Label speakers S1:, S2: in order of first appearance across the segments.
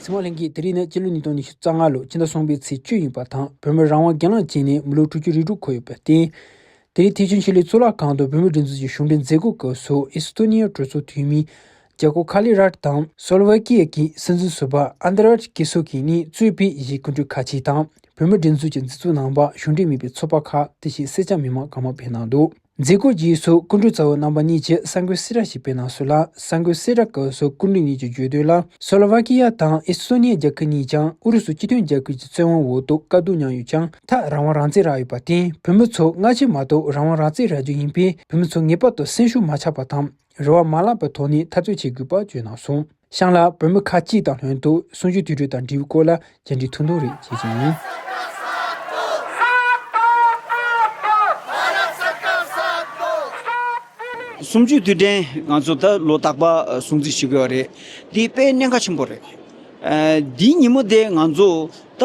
S1: སྲིད་དབང་ལྷན་རྒྱས་དེ་རིང་ནི་སྤྱི་ལོ་ཉིས་སྟོང་ཉི་ཤུ་རྩ་ལྔ་ལོ་ཕྱི་ཟླ་གསུམ་པའི་ཚེས་བཅུ་ཡིན་པ་དང་བོད་མིར་རང་དབང་སྒེར་ལངས་བྱས་ནས་མི་ལོ་དྲུག་ཅུ་རེ་དྲུག་འཁོར་ཡོད་པར་བརྟེན། དེ་རིང་ཐེག་ཆེན་ཆོས་ལུགས་གཙུག་ལག་ཁང་དུ་བོད་མིའི་སྒྲིག་འཛུགས་ཀྱི་གཞུང་འབྲེལ་མཛད་སྒོ་སྐབས་སུ་ཨི་སི་ཐོ་ནི་ཡའི་གྲོས་ཚོགས་འཐུས་མི། རྒྱལ་སྒོ་ཁཱ་ལི་རཱཏ་དང་སོ་ལི་ཝེ་ཀི་ཡཱ་ཀི་སྲིད་འཛིན་ཟུར་པ་ཨན་ཏི་རཱཏ་ཀི་སུ་ཀི་གཉིས་གཙོས་བོད་གཞིས་སྐུ་མགྲོན་ཁ་ཆེ་དང་བོད་མི་སྒྲིག་འཛུགས་ཀྱི་འཛིན་བཟུང་ནང་པ་གཞུང་འབྲེལ་མིན་པའི་ཚོགས་པ་ཁག་དེ་བཞིན་སེར་སྐྱ་མི་མང་གང་མང་ཕེབས་གནང་འདུག་མཛད་སྒོའི་རྗེས་སུ་སྐུ་མགྲོན་རྩ་བའི་རྣམ་པ་གཉིས་ཀྱིས་གསར་འགོད་གསལ་བསྒྲགས་ཤིག་སྤེལ་གནང་སྲོལ་ལ་གསར་འགོད་གསལ་བསྒྲགས་སྐབས་སུ་སྐུ་མགྲོན་གཉིས་ཀྱི་བརྗོད་དོན་ལ་སོ་ལི་ཝེ་ཀི་ཡཱ་དང་ཨེ་སི་ཏོ་ནི་ཡཱ་རྒྱལ་ཁབ་གཉིས་ཀྱང་ཨུ་རུ་སུ་སྤྱི་མཐུན་རྒྱལ་ཁབ་ཀྱི་བཙན་དབང་འོག་ཏུ་དཀའ་སྡུག་མྱངས་ཡོད་ཀྱང་ཐག་རང་དབང་རང་བཙན་རག་ཡོད་པར་བརྟེན་བོད་མི་ཚོ་སྔ་ཕྱི་མ་གཏོགས་རང་དབང་རང་བཙན་རག་རྒྱུ་ཡིན་པས་བོད་མི་ཚོ་ངེས་པར་དུ་སེམས་ཤུགས་མ་ཆག་པ་དང། རེ་བ་མ་བརླག་པའི་ཐོག་ནས་འཐབ་རྩོད་བྱེད་དགོས་པ་བརྗོད་གནང་སོང། ཤང་ལ་བོད་མི་ཁག་གཅིག་དང་ལྷན་དུ་གསུང་ཆོས་དུས་དྲུག་དང་འབྲེལ་བའི་སྐོར་ལ་མཇལ་འཕྲད་ཐུང་ཐུང་རེ་བྱས་ཅིང། གསུང་
S2: ཆོས་དུས་དྲན་ང་ཚོ་ད་ལོ་རྟག་པར་སྲུང་བརྩི་བྱེད་དགོས་པ་རེད། འདི་དཔེ་གནད་འགག་ཆེན་པོ་རེད། འདིའི་ཉིན་མོ་དེ་ང་ཚོ་ད་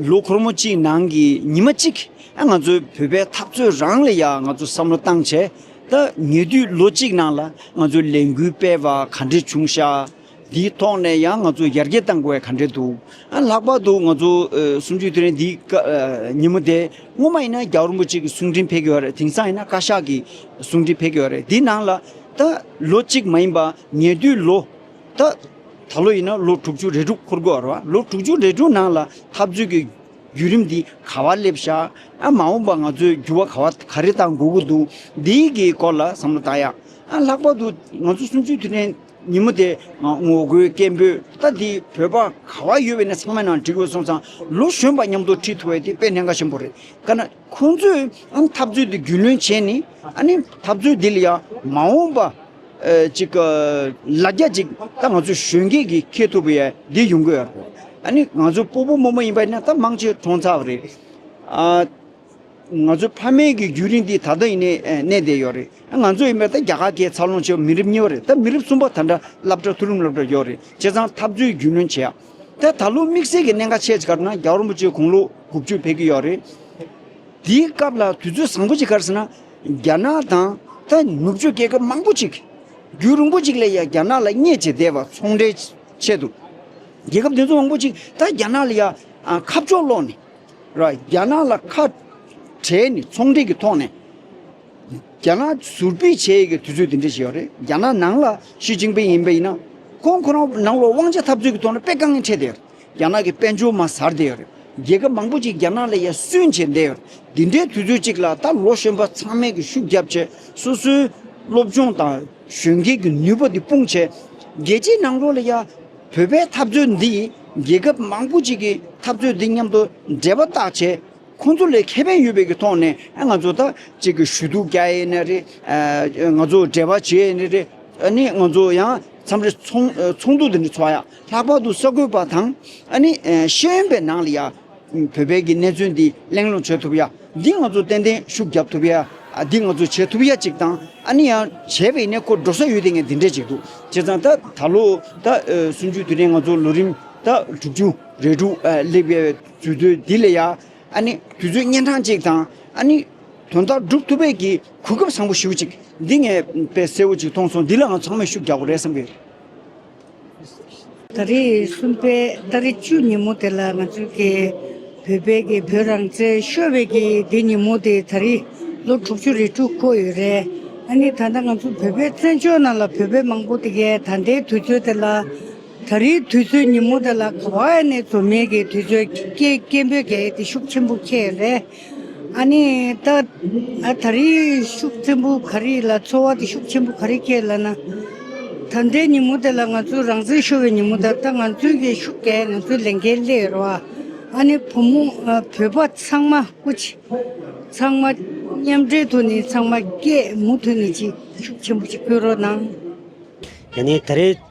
S2: ལོ་ཁོར་མོ་གཅིག་ནང་གི་ཉི་མ་གཅིག་ང་ཚོའི་བོད་པའི་འཐབ་རྩོད་རང་ལ་ཡང་ང་ཚོ་བསམ་བློ་བཏང་བྱས། ད་ཉེ་དུས་ལོ་གཅིག་ནང་ལ་ང་ཚོས་ལས་འགུལ་སྤེལ་བ་ག་འདྲས་བྱུང་ཤག་འདིའི་ཐོག་ནས་ཡང་ང་ཚོ་ཡར་རྒྱས་བཏང་དགོས་ག་འདྲས་འདུག་ཨ་ལྷག་པར་དུ་ང་ཚོ་གསུམ་བཅུའི་དུས་རིང་འདིའི་སྐབས་ཉིན་མོ་དེ་སྔོན་མ་ཡིན་ན་རྒྱ་རོན་པོ་ཆེ་གི་གསུང་འཕྲིན་ཕེབས་ཀྱི་ཡོད་རེད་དེང་སང་ཡིན་ན་བཀའ་ཤག་གི་གསུང་འཕྲིན་ཕེབས་ཀྱི་ཡོད་རེད་འདི་ནང་ལ་ད་ལོ་གཅིག་མ་ཡིན་པ་ཉེ་དུས་ལོ་ད་ད་ལོ་ཡིན་ན་ལོ་དྲུག་ཅུ་རེ་དྲུག་འཁོར་དགོས་རེད་ལོ་དྲུག་ཅུ་རེ་དྲུག་ནང་ལ་འཐབ་རྩོད་ཀྱི་བརྒྱུད་རིམ་འདི་ག་བ་སླེབས་ཤག་ཨ། མ་འོངས་པ་ང་ཚོས་འགྱུར་བ་ག་བ་ག་རེ་བཏང་དགོས་ཀྱི་འདུག་འདི་ཡི་གི་སྐོར་ལ་བསམ་བློ་བཏང་ཡག་ཨ། ལྷག་པར་དུ་ང་ཚོ་གསུམ་བཅུའི་དུས་དྲན་ཉིན་མོ་དེ་ངོ་རྒོལ་སྐད་འབོད་ལྟ་འདི་བོད་པ་ག་བ་ཡོད་པའི་ནས་ཚང་མའི་ནང་འགྲིག་འོས་སོང་ཙང་ལོ་གཞོན་པ་མཉམ་དུ་ཁྲིད་ཐུ་བའི་དེ་དཔེ་ནས་འགའ་ཞིག་འབོ་རེད་དཀའ་ན། ཁོང་ཚོས་འཐབ་རྩོད་དེ་རྒྱུས་ལོན་བྱས་ནས་འཐབ་རྩོད་དེ་ལ་ཡང་མ་འོངས་པ་ཅིག་ལ་རྒྱ་ཅིག་ད་ང་ཚོ་གཞོན་སྐྱེས་ཀྱིས་འཁེལ་ཐུབ་པ་ཡང་འདི་ཡོང་གི་ཡོད་རེད། ང་ཚོ་སྤོ་པོ་རྨོ་མོ་ཡིན་པ་ནི་ད་དམངས་ཆེད་གྲོང་ཚགས་རེད། ང་ཚོའི་ཕ་མེས་ཀྱི་རྒྱུན་རིང་འདི་ད་ལྟ་ཡིན་ནས་གནས་བསྡད་ཡོད་རེད། ང་ཚོ་ཡིན་པ་ད་རྒྱ་གར་གྱི་འཚར་ལོངས་བྱས་པ་མི་རིགས་གཉིས་པ་རེད། ད་མི་རིགས་གསུམ་པ་ད་འདྲ་བསླབ་གྲྭ་མཐོ་རིམ་སློབ་གྲྭ་ཡོད་རེད། བྱས་ཙང་འཐབ་རྩོད་རྒྱུས་ལོན་བྱས་ཡ། ད་ད་ལོ་དམིགས་བསལ་གྱི་གནད་འགག་ཆེ་གཟིགས་ཁར་ན་རྒྱ་རོམ་པོ་ཆེའི་གུང་ལོ་དགུ་བཅུ་ཕེབས་ཀྱི་ཡོད་རེད། དེའི་སྐབས་ལ་དུས་ཚོད་བཟང་པོ་ཅིག་ཁར་ཟེར་ན་རྒྱ་ནག་དང་ད་ནུབ་ཕྱོགས་རྒྱལ་ཁབ་མང་པོ་ཅིག་གིས་རྒྱུད་རིང་པོ་ཅིག་ལ་ཡང་རྒྱ་ནག་ལ་བརྙས་བཅད་བསྡད་པ་ཚོང་འབྲེལ་ཆེད་དུ། རྒྱལ་ཁབ་དེ་ཚོ་མང་པོ་ཅིག་ད་རྒྱ་ནག་ལ་ཡང་ཁ་ཕྱོགས་སློག་ནས། རྒྱ་ནག་ལ་ཁ་བྲལ་ནས་ཚོང་འབྲེལ་གྱི་ཐོག་ནས། རྒྱ་ནག་ཟུར་སྤེལ་བྱེད་ཡས་ཀྱི་དུས་ཚོད་དེ་འདྲ་ཞིག་ཡོད་རེད་རྒྱ་ནག་ནང་ལ་ཞི་ཅིང་པིང་ཡིན་པ་ཡིན་ན། ཁོང་ཁོ་རང་ནང་ལོག་དབང་ཆ་འཐབ་རྩོད་ཀྱི་ཐོག་ནས་དཔེ་དཀའ་ངལ་འཕྲད་བསྡད་ཡོད་རེད་རྒྱ་ནག་གི་དཔལ་འབྱོར་མ་ཟར་བསྡད་ཡོད་རེད་རྒྱལ་ཁབ་མང་པོ་ཅིག་རྒྱ་ནག་ལ་ཡར་བསུན་བྱེད་བསྡད་ཡོད་རེད་འདི་འདྲའི་དུས་ཚོད་ཅིག་ལ་ད་ལོ་གཞོན་པ་ཚང་མས་ཀྱི་ཤུགས་རྒྱབ་བྱེད་སོ་སོའི་སློབ་སྦྱོང་དང་གཞོན་སྐྱེས་ཀྱི་ནུས་པ་འདི་སྤུངས་བྱེད། རྒྱལ་སྤྱིའི་ནང་ལོག་ལ་ཡ། བོད་པའི་འཐབ་རྩོད་འདི་ཡིས་རྒྱལ་ཁབ་མང་པོ་ཅིག་གི་འཐབ་རྩོད་འདི་མཉམ་དུ་འབྲེལ་བ་བཏགས་བྱེད། ཁོང་ཚོ་ལས་ཁེ་ཕན་ཡོད་པའི་ཐོག་ནས་ང་ཚོ་ད་ཅིག་གི་ཞུ་གཏུག་རྒྱག་ཡས་ནས་རེད། ང་ཚོ་འབྲེལ་བ་བྱེད་ཡས་ནས་རེད། ནི་ང་ཚོ་ཡང་མཚམས་རེ་ཚོགས་འདུ་དེ་འདྲ་ཚོགས་ཡ། ལྷག་པར་དུ་ས་ཁུལ་པ་དང། ནི་ཤེས་ཡོན་པའི་ནང་ལ་ཡ། བོད་པའི་གི་གནས་ཚུལ་འདི་གླེང་སློང་བྱེད་ཐུབ་ཡ། འདི་ང་ཚོ་ཏན་ཏན་ཤུགས་རྒྱབ་ཐུབ་ཡ། འདི་ང་ཚོ་བྱེད་ཐུབ་ཡ་ཅིག་དང། ནི་ཡང་བྱས་པའི་ནས་ཁོ་འགྲོ་ས་ཡོད་དེ་ངས་འདི་འདྲ་ཅིག་འདུག་བྱས་ཙང་ད་ད་ལོ་ད་སུན་ཅུ་དེ་ནས་ང་ཚོ་ལོ་རིམ་ད་དྲུག་ཅུ་རེ་དྲུག་སླེབས་ཡས། དུས་ཚོད་འདི་ལ་ཡང། དུས་ཚོད་གཉན་འཕྲང་ཅིག་དང། དོན་དག་སྒྲུབ་ཐུབ་པའི་གི་གོ་སྐབས་བཟང་པོ་ཞིག་ཅིག་འདི་ངས་དཔེ་གསལ་བོ་ཅིག་མཐོང་སོང་འདི་ལའང་ཚང་མས་ཤུགས་རྒྱག་དགོས་རེད་བསམ་གི།
S3: ད་རེས་གསུམ་པའི་ད་རེས་བཅུ་ཉིན་མོ་དེ་ལ་ང་ཚོའི་གི་བོད་དཔལ་གི་བོད་རང་བཙན་ཤོད་པའི་གི་དེ་ཉིན་མོ་དེ་ད་རེས་ལོ་དྲུག་ཅུ་རེ་དྲུག་འཁོར་ཡོད་རེད། ད་ལྟ་ང་ཚོའི་བོད་དཔལ་བཙན་བྱོལ་ནང་ལ་བོད་པའི་མང་པོ་དེ་གས་ད་ལྟའི་དུས་ཚོད་དེ་ལ། ད་རེའི་དུས་ཚོད་ཉིན་མོ་དེ་ལ་ག་བ་ཨ་ནེ་ཚོ་མེད་ཀི་དུས་ཚོད་སྐྱེལ་སྐྱེལ་འབོད་སྐད་དེ་ཤུགས་ཆེན་པོ་ཁྱད་རེད། ཨ་ནེ། ད་ད་རེའི་ཤུགས་ཆེན་པོ་ག་རེ་ལ་ཚོར་བ་དེ་ཤུགས་ཆེན་པོ་ག་རེ་ཁྱད་ལ་ན། ད་ལྟའི་ཉིན་མོ་དེ་ལ་ང་ཚོས་རང་བཙན་ཤོར་བའི་ཉིན་མོ་དང་ད་ང་ཚོས་ཀྱི་ཤུགས་ཀྱིས་ང་ཚོའི་ལས་འགན་ལས་རོགས་ཨ་ནེ་བུ་མོ་བོད་པ་ཚང་མ་སྐུ་ཆེ་ཚང་མ་མཉམ་འབྲེལ་དུ་ནས་ཚང་མ་སྐད་མུ་མཐུད་ནས་ཅིག་ཤུགས་ཆེན་པོ་ཅིག་སྤེལ་རོགས་གནང། ཡ་
S4: ནི་ད་རེའི་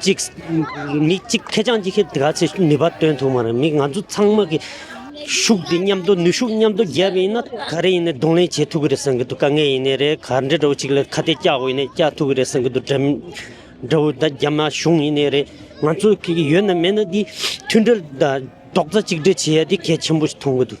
S4: གཅིག། མི་གཅིག་ཁེ་བྱང་ཅི་ཁེ་དགའ་ཚེ་ནུས་པ་བཏོན་ཐུབ་མ་རེད་མི་ང་ཚོ་ཚང་མ་གི་ཤུགས་དེ་མཉམ་དུ་ནུས་ཤུགས་མཉམ་དུ་བརྒྱབ་ཡིན་ན་ག་རེ་ཡིན་ནས་གདོང་ལེན་བྱེད་ཐུབ་ཀྱི་རེད་བསམ་གྱི་འདུག་དཀའ་ངལ་ཡིན་ནི་རེད་ག་འདྲ་འདྲ་བོ་ཅིག་ལ་ཁ་གཏད་བཀྱག་འོས་ནས་བཀྱག་ཐུབ་ཀྱི་རེད་བསམ་གྱི་འདུག་འདྲ་འདྲ་བོ་ད་རྒྱ་མ་གཞུང་ཡིན་ནི་རེད་ང་ཚོ་གི་ཡོད་ན་མེད་ན་འདི་མཐུན་སྒྲིལ་དང་རྡོག་རྩ་གཅིག་སྒྲིལ་བྱེད་ཡ་དེ་གལ་ཆེན་པོ་ཞིག་མཐོང་གི་འདུག།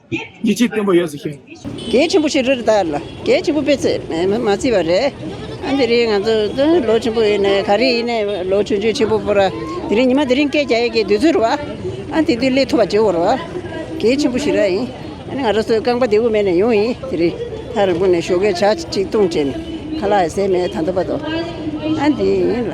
S5: ཡིད་ཆེས་བརྟན་པོ་ཡོད་ཟེར་ཞིང། རྒྱལ་ཆེན་པོ་ཞིག་རེད་ད་
S6: ལ་རྒྱལ་ཆེན་པོ་དཔེ་ཚད་མེད་མ་བརྩིས་པ་རེད། ཨ་འདི་རིང་ང་ཚོ་ལོ་ཆེན་པོ་ཡིན་ནས་ག་རེ་ཡིན་ནས་ལོ་ཆུང་ཆུང་ཆེན་པོ་པོ་ར་དེ་རིང་ཉི་མ་དེ་རིང་སྐད་རྒྱག་ཡས་ཀྱི་དུས་ཚོད་རེད་བ། ཨ་དེ་དུས་སླེ་ཐུབ་པ་བྱེད་འོར་བ། རྒྱལ་ཆེན་པོ་ཞིག་ར་ཡིན། ཨ་ནི་ང་ར་སོའི་རྐང་པ་དེ་འུ་མེད་ནས་ཡོང་ཡིན་དེ་རིང་ཐ་རི་བོ་ནས་ཞོ་གས་བྱ་གཅིག་བཏུང་བྱས་ནས་ཁ་ལག་ཡས་ཟས་མེད་ད་འདོད་པ་དོ། ཨ་འདི་ཡིན་ལ།